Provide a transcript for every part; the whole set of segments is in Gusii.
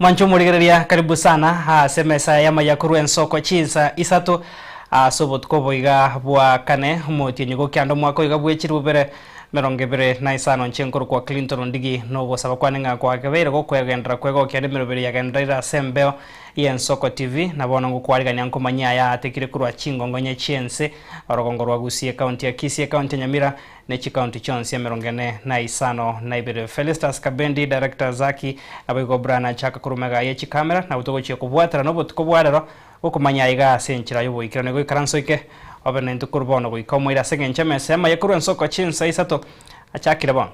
Mwanche omorigereria, karibu sana ase emesa y'amaya korwa ensoko chinsa isato ase obotuko obo iga bwa kane, omotienyi gokianda omwaka oiga bw'echiri bobere emerongo ebere na isano. Inche nkorokwa Clinton Ndigi, na ogosaba kwane ng'a kwagebeire gokoegenderera kwegokia rende emeroberi yagenderera ire ase embeo y'ensoko TV. Na bono ngokwarigania nkomanyia aya aatekire korwa chingongonya chi'ense, orogongo rwa Gusii, ekaunti ya Kisii, ekaunti ya Nyamira, ne chikaunti chionsi emerongo ene na isano na ibere. Felistus Kabendi, Director, Zaki, Naboigo Brian achaka korwa omega ye chikamera, nabo togochia kobwatera nobotuko bwa rero okomanya aiga ase enchera y'oboikeranu. Igo ikaransa oike obe nintwe korwa bono goika omoire ase engencho emesemo eye korwa ensoko chinsa isato achakire bono.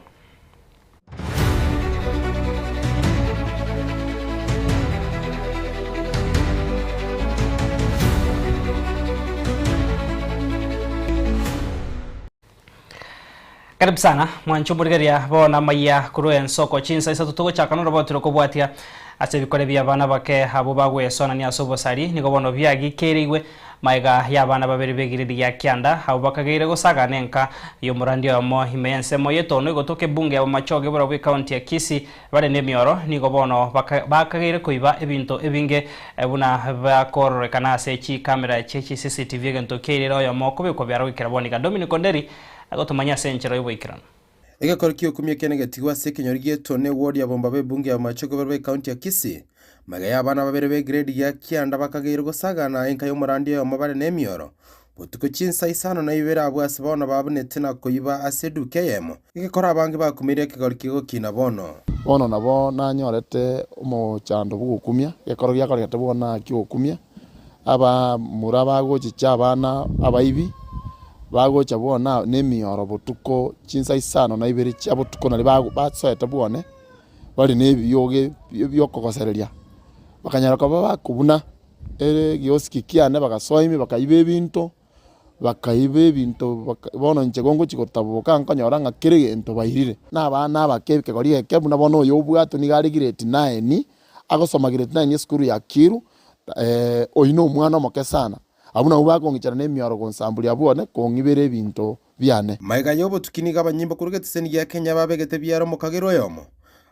Karibu sana mwancho omorigeria bono amaya korwa ense oko chinsa isato togochaka norobotire kobwatia ase ebikore bia abana bake abwo bagwesonania ase obosari nigo bono biagikereigwe Maega y'abana babere b'egiredi gia kianda abwo bakageire gosagana enka y'omorandia oyomo ime y'ensemo y'etono egotoka ebunge ya Bomachoge borobwo ekaunti ya Kisii. Bare nemioro nigo bono bakageire koiba ebinto ebinge buna biakororekana ase chikamera chie chi CCTV egento kiairire oyomo okobekwa biara goikera Boniga. Dominic Onderi agotomanyia ase enchera y'oboikeranu. Egekori ki'okumia ekia negetigwe ase ekenyoro gieto ne ward ya Bomba b'ebunge ya Bomache Kobero be county ya Kisii. Magega ya abana babere be grade gia kianda bakageirwe gosaga na enka y'omorandi oyomo bare ne emioro botuko chinsa isano na ibere abwo ase bono babunete na koiba ase eduka eyemo egekora abange bakumeire ekegori kegokina bono. Bono nabo nanyorete omochando bw'okumia, gekoro giakoregete bono na ki'okumia. abamura bagochicha abana abaibi, bagocha bono nemioro botuko chinsa isano na ibere chia botuko naende ba- basoete bwane, bare na ebiogo ebio biokogosereria, bakanyara koba bakobuna ekioski kiane bagasoa ime bakaiba ebinto, bakaiba ebinto baka bono inche gongochia gotaboboka nkonyora ng'a kera egento bairire. Na abana abake ekegori eke buna bono oyo obwate niga are grade nine, agosoma grade nine esukuru ya kiiru. Oyio nomwana omoke sana, abwo nabwo bakong'ichana nemioro gonsamburia bwone, kong'ibera ebinto biane. Maega y'obotuki nigo abanyimbo korwa egeteseni gia Kenya babegete biara omokagera oyomo,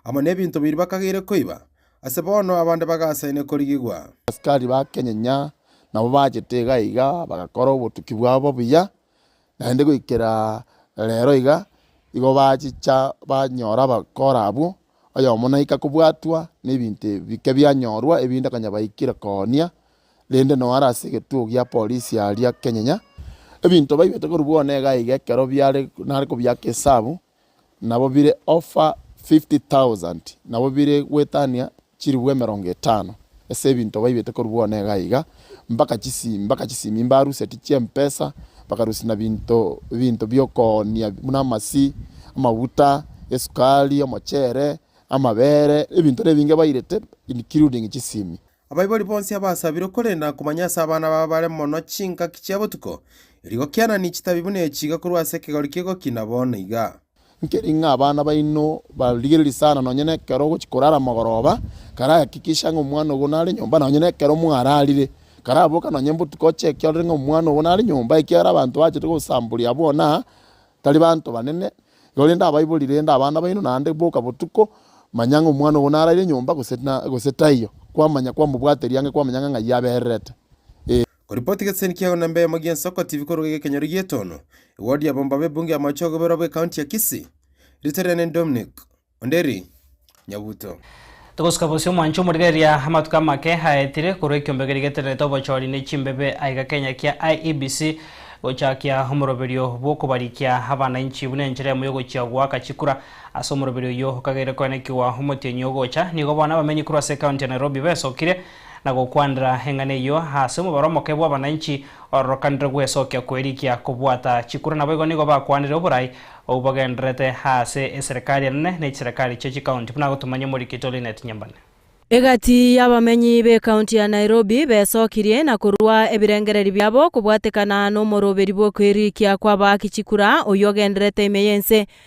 amo nebinto bibiri bakageire koiba, ase bono abande bagasaine korigigwa. Abasikari ba Kenyenya nabo bachete iga iga bagakora obotuki bwabo buya, naende goikera rero iga igo bachicha banyora abakora abwo. oyomo naika kobwatwa nebinto ebike bianyorwa, ebinde akanyabaikera koonia, rende noo are ase egetugo gia polisi aria kenyenya ebinto baibete korwa bono iga iga ekero biare nare kobiaka esabu, nabo bire over fifty thousand, nabo bire goetania chiribu emerongo etano ase ebinto baibete korwa bono iga iga. mbaka chisi, mbaka chisimi, mbaruseti chi'empesa, bakarusia na binto, ebinto bi'okoonia buna amasi, amaguta, esukari, omochere, amabere, ebinto nebinge bairete, including chisimi. Abaibori bonsi abasabirwe korenda komanya ase abana babo bare mono chingaki chia botuko, erio gokianani chitabi buna echi iga korwa ase ekegori ki'egoki na bono iga. Nkeri ng'a abana baino barigererie sana nonye nekero ogochia korara amagoroba, karahakikisha ng'a omwana ogo nare nyomba nonye nekero mwararire. Karaboka nonye botuko ocheke orore ng'a omwana ogo nare nyomba ekiagera abanto bachete gosamboria abwo na tari banto banene, korende abaibori rende abana baino naende boka botuko, manya ng'a omwana ogo naraire nyomba gose na gose taiyo, kwamanya kwamobwateria ang'e kwamanya ng'a ng'ai abererete, eh. Koripoti Egeseseni kia igana na mbemo gia Ensoko TV korwa Egekenyoro gi'etono, Ewodi ya abamomba b'ebunge y'amache ogoberwa bw'Ekaunti ya Kisii. Rito riane ni Dominic Onderi Nyabuto. Togosuka bosio mwanche omorigereria amatuko amake aetire korwa ekiombeko rigetererete obochori ne chimbebe aiga Kenya kia IEBC gochakia omoroberio bw'okobarikia abanainchi buna enchera emo yogochia goaka chikura. Ase omoroberio oyio okageire koenekigwa omotienyi ogocha, nigo bono abamenyi korwa ase ekaunti ya Nairobi besokire na gokwanera eng'ana eyio ase omobaro omoke bw'abananchi ororokanire gwesokia kwerikia kobwata chikura naboigo nigo bakwanire oborai obwo bagendererete ase eserekari enene ne chiserekari chia chikaunti, buna agotumanya omorikito Linet Nyambane. Egati y'abamenyi b'ekaunti ya Nairobi besokirie na korua ebirengereri biabo kobwatekana nomoroberi bw'okwerikia kw'abaaki chikura oyio ogendererete ime y'ense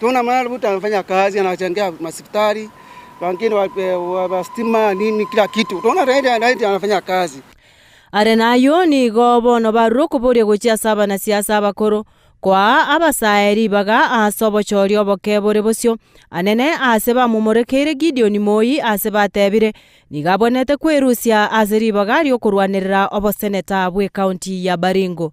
Tuna mwana mtu anafanya kazi, anachangia masipitali, wengine wa stima, nini, kila kitu. Tuna zaidi ya zaidi anafanya kazi. Are nayio nigo bono barure okoboria gochia ase abanasiasa abakoro, koaa abasae ribaga ase obochooria oboke bore bosio. Anene aase bamomorekeire Gideoni moi aase batebire, nigo abwenerete kwerusia ase ribaga ri'okorwanerera oboseneta bw'ekaunti ya Baringo.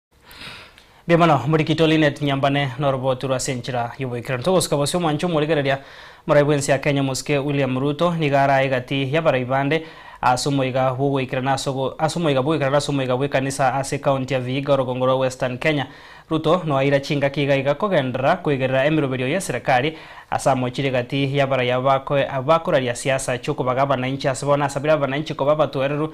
Mbuya mono, Murikito Lynette Nyambane noroboti rwa ase enchera y'oboikeranu. Togosuka bosio omwancho omorigereria morai bw'ense ya Kenya Omosike William Ruto nigo arae egati y'abarai bande ase omoiga bw'ogoikerana ase ase omoiga bw'ogoikerana ase omoiga bw'ekanisa ase ecounty ya Vihiga orogongo rwa Western Kenya. Ruto noaira chingaki iga iga kogenderera koigerera emeroberio y'eserekari ase amochire egati y'abarai aba bakoraria siasa chi'okobaga abananchi ase bono asabire abananchi koba abatoereru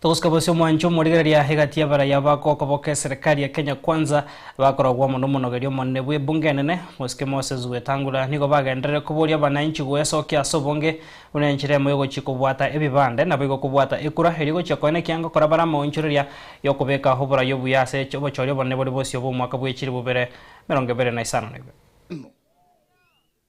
Togosika bose omwancho omorigereria egati y'abarai aba gokoboka eserekari ya Kenya Kwanza, bakorogwa amo n'omonogeria omonene bw'ebunge enene, Mosike Moses Wetangula, nigo bagenderere koboria abananchi gwesokia ase obonge buna enchera emo y'ogochia kobwata ebibande, naboigo kobwata ekura eria egochia koena ekianga kore bare amaonchoreria y'okobeka oborai obuya ase obochori obonene bore bosio bw'omwaka bw'echilifu bire emerongo ebere na isano na ibere.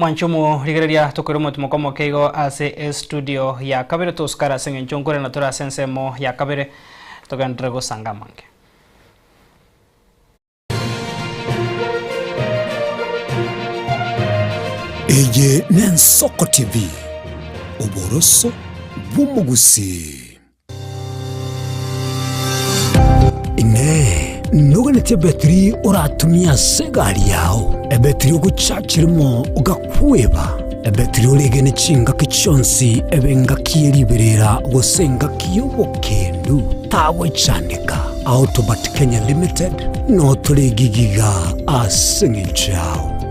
Mwanchomu, rigereria tokoire omotimoko omoke igo ase estudio ya kabere, tosukare ase eng'encho nkore na tore ase ensemo ya kabere, togenderere gosanga amange. Eye n'Ensoko TV, oboroso bw'omogusii. Inee! Noganete ebetiri oratumie ase egari yao? Ebetiri ogochachire mo gakweba? Ebetiri oregene chingaki chionsi ebe engaki ye riberera gose engaki y'obokendu? Tagochandeka! Autobert Kenya Limited notoregigiga ase engencho yao.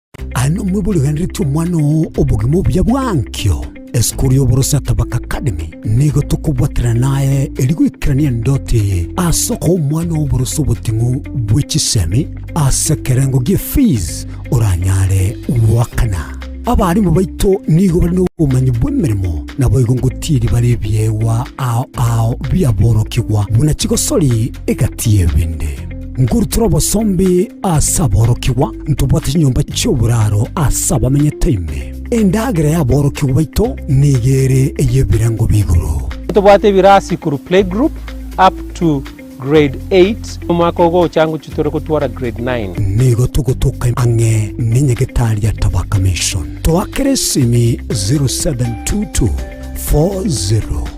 Aye nomwe boriganiretie omwana oo obogima obuya bw'enkio. Esukuru y'Oboroso ya Tabaka Academy nigo tokobwaterana naye erio goikerania endoti eye ase okoa omwana oboroso oboting'u bwe chisemi ase ekerengo gie fees oranyare goakana. Abarimu baito nigo bare nobomanyi bw'emeremo naboigo ngotiiri bare ebiegwa ao ao biaborokigwa buna chigosori Egati y'ebende. Nkuru tore obosombi ase aborokigwa, ntobwate chinyomba chi'oboraro ase abamenyete ime. Endagera y'aborokigwa baito nigo ere ey'ebirengo bi'igoro. Ntobwate ebirasi sikuru, playgroup, up to grade eight, omwaka ogocha ngochia tore gotwora grade nine. Nigo togotoka ang'e ne Nyagetari ya Tabaka Mission. Toakera esimi 0722 40.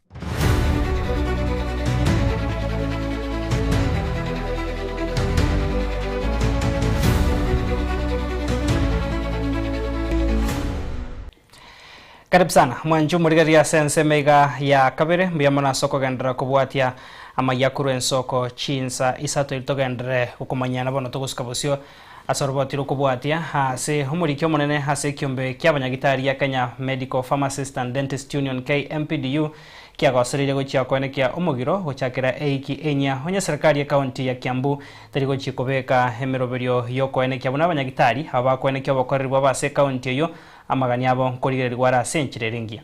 Karibu sana mwancho morigereria ase ensemo iga ya kabere mbuya mono ase okogenderera kobwatia amaya korwa ensoko chinsa isato eri togenderere gokomanyana bono togosika bosio Ase oroboti rw'okobwatia ase omoriki omonene ase ekiombe ki'abanyagitari gia Kenya Medical Pharmacist and Dentist Union, KMPDU, kiagosoreirie gochia koenekea omogiro gochakera eiki enyia onye serikari y'ekaunti ya Kiambu teri gochia kobeka emeroberio y'okoenekia buna abanyagitari aba bakoenekia obokoreri bwabo ase ekaunti eyio amagani abo nkorigererigwa are ase enchera ere engiya.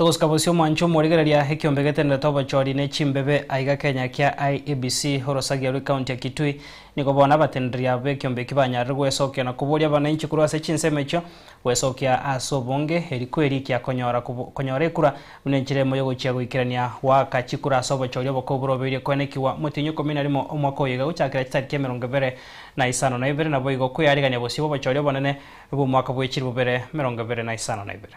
Togosika bosio mwanche omorigereria ekiombe getenderete obochori ne chimbebe aiga Kenya kia IEBC orosagia rwe county ya Kitui nigo bono abatendereri aba bekiombe eki banyarire gwesokia na koboria abananchi korwa ase chinsemo echio gwesokia ase obonge eri kweri ikia konyora konyora ekura buna enchera emo yogochia goikerania goaka chikura ase obochori obokong'u borobeire koenekigwa motienyi ikomi na rimo omwaka oyoiga gochakera chitariki emerongo ebere na isano na ibere naboigo kweyarigania bosio bobochori obonene bwomwaka bwechiri bobere merongo ebere na isano na ibere.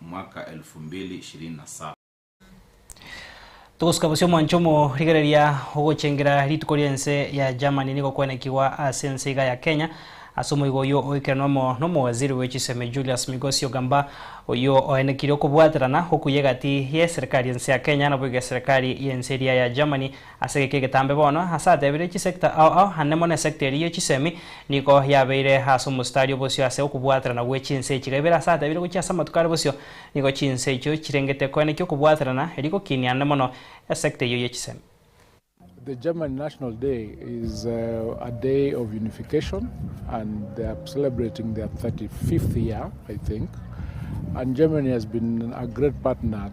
mwaka elfu mbili ishirini na saba. Togosuka bosio mwanche omo, rigereria ogochengera rituko ri'ense ya Germany nigo kwenekigwa ase ense iga ya Kenya ase omoigo oyio oikeranwa amo n'omowaziri bwe chisemi Julius Migosi Ogamba oyio oenekire okobwaterana okuya egati y'eserekari y'ense ya Kenya naboigo eserekari y'ense eria ya Germany Ase geke egetambe bono, ase atebire chisecta ao ao, ande mono esecta eria ye chisemi nigo yabeire ase omositari obosio ase okobwaterana gwe chinse echiga ibere, ase atebire gochia ase amatuko are bosio nigo chinse echio chirengete koenekia okobwaterana, erio gokiinia ande mono esecta eyio ye chisemi. The German National Day is a day of unification and they are celebrating their 35th year I think and Germany has been a great partner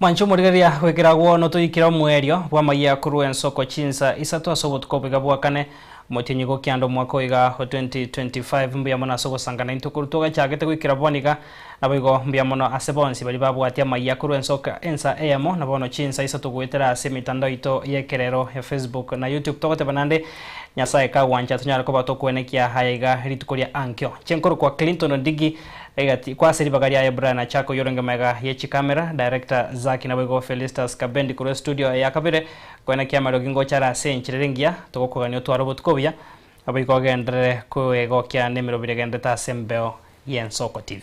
Mwanche omorigereria goikera agwo notoikire omoerio bw'amayia akorwa ensoko chinsa isato ase obotuko obo iga bwakane. Omotienyi go kianda omwaka oyo iga o 2025. Mbuya mono ase ogosanga naintwe korwa togachagete goikera bono iga. Naboigo mbuya mono ase bonsi baria babwatia amayia akorwa ensoko ensa eyemo na bono chinsa isato goetera ase emitandao yaito y'ekerero ya Facebook na YouTube. Togoteba nande Nyasae kagwancha tonyare koba tokwenekia aya iga rituko ria ankio. Inche nkorokwa Clinton Ndigi. Egati kwase ribaga riaye Brian Achaka oyio orenge maega ye chikamera, Director Zaki naboigo Felistus Kabendi korwa estudio eya kabere kwena kiamarogi ngochare ase enchera ere engiya togokogania otware obotuko obuya naboigo ogenderere kwegokia nemirobio eregenderete ase embeo y'Ensoko TV.